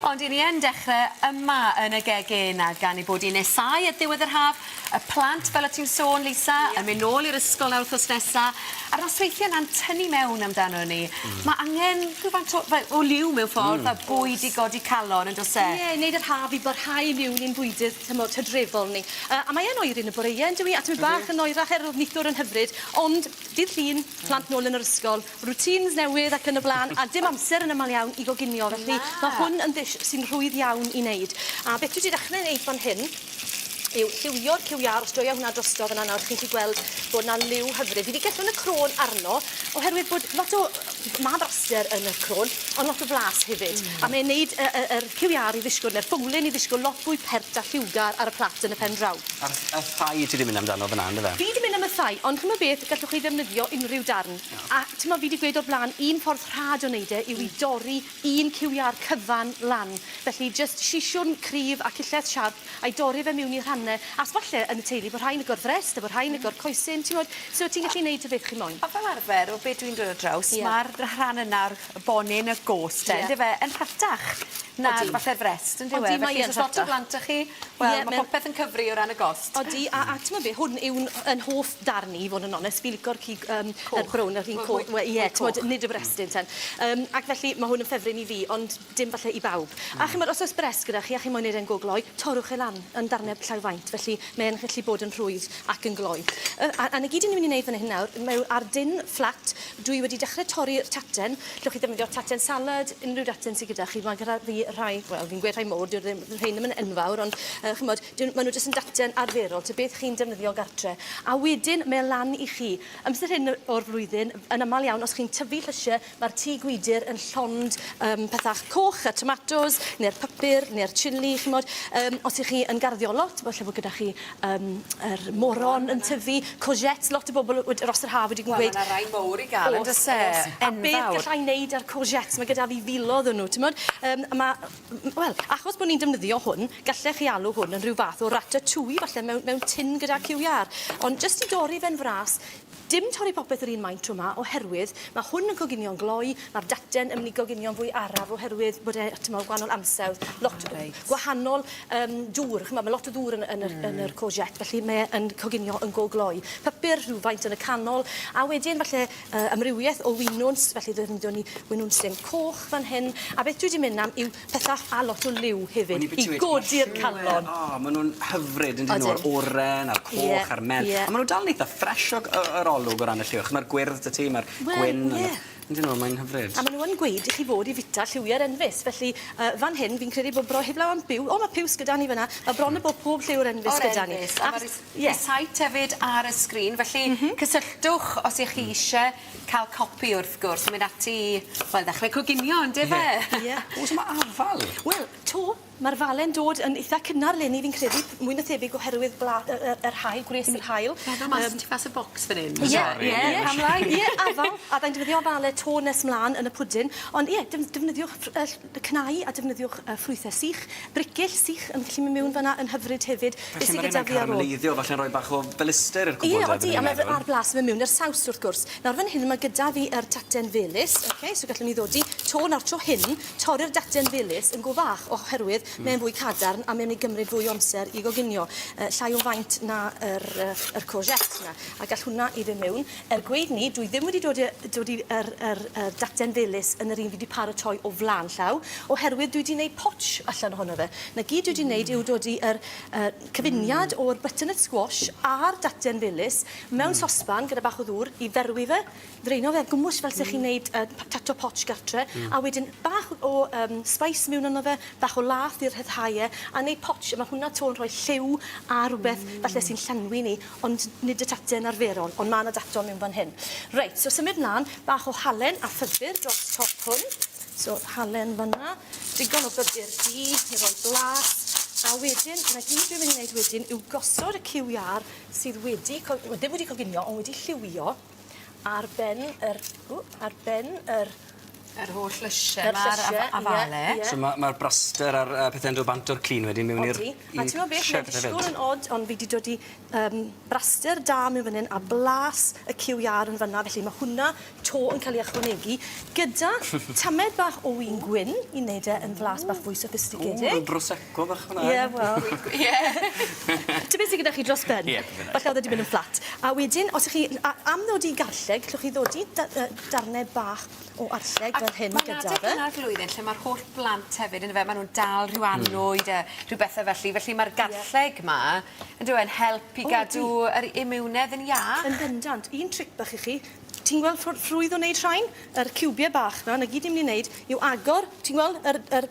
Ond i ni yn dechre yma yn y gegin a gan ei bod hi'n nesáu at ddiwedd yr haf, y plant, fel o' ti'n sôn Lisa, yn mynd nôl i'r ysgol nawr wthnos nesa, a'r nosweithie 'na'n tynnu mewn amdanon ni, ma' angen rhywfaint o fe- o liw mewn ffordd fel bwyd i godi calon on'd o's e? Ie, i neud yr haf i barhau i miwn i'n bwydydd tymor tydrefol ni. Yy a mae e'n oeri yn y boreue yndyw 'i? A tymed bach yn oerach er o'dd nithwr yn hyfryd, ond dydd Llun, plant nôl yn yr ysgol, routines newydd ac yn y blaen, a dim amser yn aml iawn i goginio, felly mae hwn yn ddish sy'n rhwydd iawn i wneud. A beth dwi 'di dechrau wneud fan hyn yw lliwio'r cyw iâr, os joia hwnna drosto fan'na nawr, chi'n gallu gweld bod 'na liw hyfryd. Fi 'di gellwng y crôn arno, oherwydd bod lot o... ma' braster yn y crôn, ond lot o flas hefyd, a mae'n wneud y y yr cyw iâr i ddishgwl, neu'r ffowlen i ddishgwl lot fwy pert a lliwgar ar y plat yn y pen draw. A'r y thigh ti 'di mynd amdano fan'na yndyfe? Fi 'di mynd am y thigh, ond ch'mod beth, gallwch chi ddefnyddio unrhyw darn. Iawn. A t'mo' fi 'di gweud o'r bla'n un ffordd rhad o neud e yw i dorri un ciw iâr cyfan lan. Felly jyst siswrn cryf a cillell siarp a'i dorri fe miwn i rhanne as falle yn y teulu bo' rhai'n agor frest a bo' rhai'n agor coesyn t'mod so ti'n gallu neud y beth chi moyn. A fel arfer o be' dwi'n dod ar draws... Ie. ...ma'r r- rhan yna o'r y bonyn y gôs 'te... Ie. ...on'd yfe yn rhatach na... Odi. ...falle'r frest on'd yw e? Odi mae yn rhatach. Felly os o's lot o blant 'da chi wel... Ie. ...ma' popeth yn cyfri o ran y gost. Odi a a t'mod be' hwn yw'n ff- 'yn hoff darn i i fod yn onest fi lico'r cig yym... Coch. ...y brown yr un co- we- ie t'mod nid y brestyn ten. Yym ac felly ma' hwn yn ffefryn i fi ond dim falle i bawb. A ch'mod os o's brest gyda chi a chi moyn neud e'n go gloi torrwch e lan yn darne llai o faint felly mae e'n gallu bod yn rhwydd ac yn gloi. Yy a a 'na gyd 'yn ni myn' i neud fan hyn nawr m- yw ar dân fflat Dwi wedi dechre torri'r taten. Llwch chi ddefnyddio taten salad, unrhyw daten sy gyda chi. Mae gyda fi rhai, wel fi'n gweud rhai mowr, dyw'r ddim, rhein ddim yn enfawr ond yy ch'mod dyn- ma' nw jyst yn daten arferol ta beth chi'n defnyddio gartre. A wedyn mae e lan i chi. Amser hyn yy o'r flwyddyn, yn amal iawn os chi'n tyfu llysie ma'r tŷ gwydyr yn llond yym pethach coch y tomatos ne'r pypyr ne'r chilli ch'mod. Yym os 'ych chi yn garddio lot falle bo' gyda chi yym yr moron yn tyfu, courgettes, lot o bobl wed- dros yr haf wedi gweud... Wel ma' 'na rai mowr i ga'l on'd o's e? O's o's. Enfawr. A beth galla i neud â'r courgettes, ma' gyda fi filodd o nw t'mod yym a ma' m- m- wel achos bo' ni'n defnyddio hwn gallech chi alw hwn yn rhyw fath o ratatouille falle mewn mewn tin gyda ciw iâr ond jyst i dorri fe'n fras Dim torri popeth yr un maint tro 'ma oherwydd ma' hwn yn coginio'n gloi, ma'r daten yn myn' i goginio'n fwy araf oherwydd bod e t'mod gwahanol ansawdd, lot o reit. gwahanol yym dŵr, ch'mod ma' lot o ddŵr yn yn yr mm. yn yr courgette felly mae e yn coginio yn go gloi. Papur rhywfaint yn y canol a wedyn falle uh, amrywiaeth o winwns felly ddefnyddiwn ni winwns dim coch fan hyn a beth dwi 'di mynd am yw Pysgod a lot o liw hefyd i godi'r calon. O ma' nw'n hyfryd on'd 'yn nw? Odyn. Yr oren a'r coch... Ie. ...a'r melyn. Ie. A ma' nw dal yn eitha ffresh o g- yy yr olwg o ran y lliw ch'mod ma'r gwyrdd 'dy ti ma'r gwyn... Wel ie. ...on'd 'yn nw mae'n hyfryd. A ma' nw yn gweud i chi fod i fita lliwie'r enfys felly yy fan hyn fi'n credu bo' bro- heblaw am byw o ma' piws gyda ni fyn 'na ma' bron a bod pob lliw o'r enfys gyda ni. O'r enfys. A ma' rei- ie. Reit site hefyd ar y sgrin felly... M-hm. ...cysylltwch os 'ych chi isie Ca'l copi wrth gwrs yn mynd ati i wel ddechre coginio on'd yfe? Ie. Ie. O's 'ma afal? Wel 'to ma'r fale'n dod yn itha cynnar leni fi'n credu p- mwy na thebyg oherwydd bla- yy yy yr haul gwres yr haul. Ie. Meddwl mas yym... Tu fas y bocs fan 'yn. Ie. Sori. Ie. Ie. Pam lai? Ie afal a fyddai'n defnyddio afale 'to nes mlan yn y pwdin ond ie def- defnyddiwch ff- yy ll- y cnau a defnyddiwch y ffrwythau sych, bricyll sych yn gallu mynd mewn fan'na yn hyfryd hefyd. Be sy gyda fi ar ôl? Felly ma' rheina'n caramelleiddio, falle'n rhoi bach o felister i'r cwbl de? Ie odi, a ma' fe a'r blas yn mynd mewn i'r saws wrth gwrs. Nawr fan hyn ma' gyda fi yr taten felys, ok, so gallwn ni ddodi to nawr tro hyn, torri'r daten felys yn go fach oherwydd mae'n fwy cadarn a mae'n mynd i gymryd fwy o amser i goginio, yy llai o faint na yr yy yr courgettes 'na, a gall hwnna i fe mewn. Er gweud 'ny, dwi ddim wedi dod i yy dod i yr yr yr dacden felys yn yr un fi 'di paratoi o flan llaw, oherwydd dwi 'di neud potsh allan ohono fe. 'Na gyd dwi 'di neud yw dod i yr yy cyfuniad o'r butternut squash a'r dacden felys mewn sosban gyda bach o ddŵr i ferwi fe, ddraeno fe, gwmws fel se chi'n neud yy potato potsh gartre, a wedyn bach o yym spice miwn arno fe, bach o lath i rhyddhau e, a neud potsh, a ma' hwnna 'to yn rhoi lliw a rwbeth falle sy'n llenwi ni. Ond nid y tactyn arferol, ond ma' 'na dactol mewn fan hyn. Reit, so symud mlan, bach o halen a phybyr dros top hwn. So, halen fan 'na, digon o bybyr du i roi blas, a wedyn, 'na gyd dwi myn' i neud wedyn yw gosod y cyw iâr sydd wedi cog- wel ddim wedi coginio, ond wedi lliwio, ar ben yr ww ar ben yr... Yr holl lysie 'ma a'r afa- afale. Ie ie. So ma' ma'r braster a'r yy pethe'n do' bant o'r clean wedyn mewn i'r... Odi. ...i... A t'mo' beth ma'n dishgwl yn od on' fi 'di dod i yym braster da mewn fyn 'yn a blas y cyw iâr yn fan 'na felly ma' hwnna 'to yn ca'l 'i ychwanegu gyda tamed bach o win gwyn i neud e yn flas bach fwy sophisticated. O rw brose. Go fach fel 'a. Ie wel fi'n gw- ie. T' be' sy gyda chi dros ben? Ie p'un a. Falle o'dd e 'di myn' yn fflat. A wedyn os 'ych chi n- a- am ddodi garlleg llwch chi ddodi da- yy darne bach o arlleg fel hyn gyda fe. Ac ma'n adeg yma o'r flwyddyn lle ma'r holl blant hefyd on'd yfe ma' nw'n dal rhyw annwyd a rhyw bethe felly felly ma'r garlleg 'ma on'd yw e'n help i gadw... O ydi. ...yr imiwnedd yn iach. Yn bendant. Un tric bach i chi Ti'n gweld ffordd rhwydd o wneud rhain? Yr ciwbiau bach 'na, 'na gyd ni'n mynd i wneud yw agor, ti'n gweld yr yr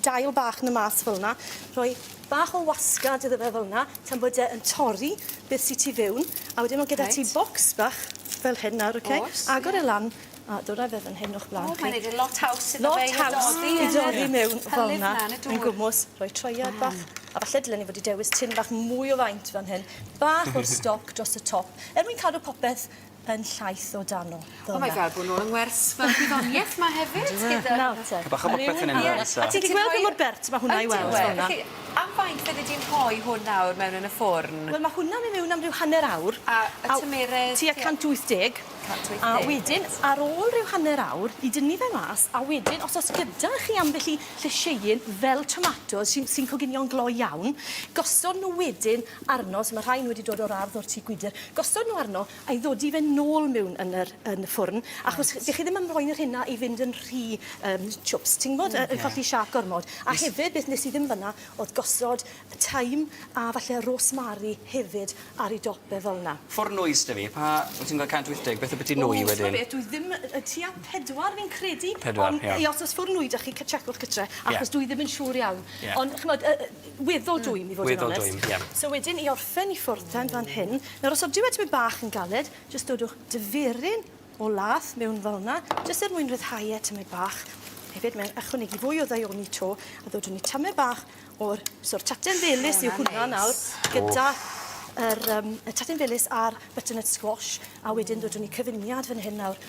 dail bach 'na mas fel 'na, rhoi bach o wasgad iddo fe fel 'na tan bod e yn torri beth sy tu fewn, a wedyn ma' gyda ti... Reit. ...bocs bach fel hyn nawr oce? O's ie. Agor e lan a dod â fe fan hyn o'ch blaen chi. O mae'n neud e lot haws iddo fe i ddodi yn yr... Lot haws i dodi mewn fel 'na. Hylif 'na yn y dŵr. Yn gwmws, rhoi troiad bach. Waw. A falle dylen ni fod 'di dewis tin bach mwy o faint fan hyn. Bach o'r stoc dros y top er mwyn cadw popeth yn llaith o dano. Fel 'na. Oh my God bo' nôl yng ngwers fel gwyddonieth 'ma hefyd gyda... Nawr te. Chydig bach o bopeth fyn 'yn a fyn 'na. A ti 'di gweld pa mor bert ma' hwnna i weld fel 'na? Ydyw e. Felly am faint fyddi di'n rhoi hwn nawr mewn yn y ffwrn? Wel ma' hwnna myn' mewn am ryw hanner awr. A y tymeredd? Tua 180. 180. A wedyn ar ôl ryw hanner awr i dynnu fe mas a wedyn os o's gyda chi ambell i llysieuyn fel tomatos sy'n sy'n coginio'n gloi iawn gosod n'w wedyn arno so ma' rhain wedi dod o'r ardd o'r tŷ gwydyr gosod nhw arno a i ddodi fe nôl miwn yn yr yn y ffwrn achos chi... 'dych chi ddim yn moyn y rhena i fynd yn rhy yym chwps ti'n gwbod yy yn colli siâp gormod a hefyd beth nes i ddim fyn 'na o'dd gosod y thyme a falle rosemary hefyd ar ei dop e fel 'na. Ffwrn nwy s'da fi pa wyt ti'n ga'l 180 beth abytu nwy wedyn? O t'mo' beth dwi ddim yy yy tua pedwar fi'n credu. Pedwar ie. Ond i os o's ffwrn nwy 'da chi cy- tsiecwch gytre achos dwi ddim yn siŵr iawn. Ie. Ond ch'mod yy yy Weddol dwym i fod yn onest. Weddol dwym, ie. So wedyn i orffen i ffwrdd tan fan hyn. Nawr os odyw e tymed bach yn galed jyst dodwch difyryn o lath mewn fel 'na jyst er mwyn rhyddhau e tymed bach. Hefyd mae'n ychwanegu fwy o ddaioni 'to a ddodwn ni tamaid bach o'r so yr taten felys yw hwnna nawr gyda yr yym y taten felys a'r butternut squash a wedyn ddodwn ni cyfuniad fan hyn nawr